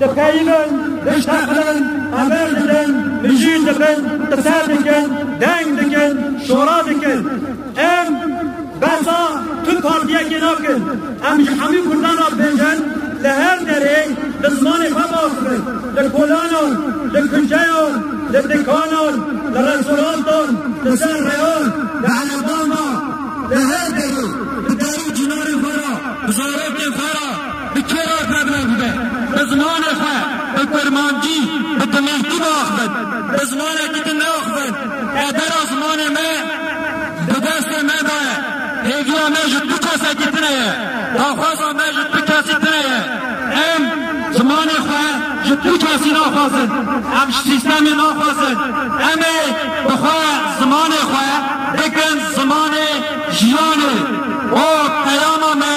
Dixeyînin, dişteqilin, hever didin, mijîl dibin, qise dikin, deng dikin, şora dikin. Em behsa tu partiyekê nakin. Em ji hemû kurdan re pênc in, li her derê bi zimanê xwe baz dibin. Li kolanan, li kuçeyan, li dikanan, li restorantan, li ser rêyan, li ereban de, li her derê bi derû çinarên xwe re, bi zarokên xwe re, Bi kê re ferbaz bibe? Bi zimanê xwe, bi kurmancî, bi dimilkî biaxivin. Bi zimanekî din neaxivin. Qedera zimanê me di destê me de ye. Hêviya me ji tu kesekî tune ye. Daxwaza me ji tu kesî tune ye. Em zimanê xwe ji tu kesî naxwazin. Em ji sîstemê naxwazin. Em ê bi xwe zimanê xwe bikin zimanê jiyanê. O peyama me.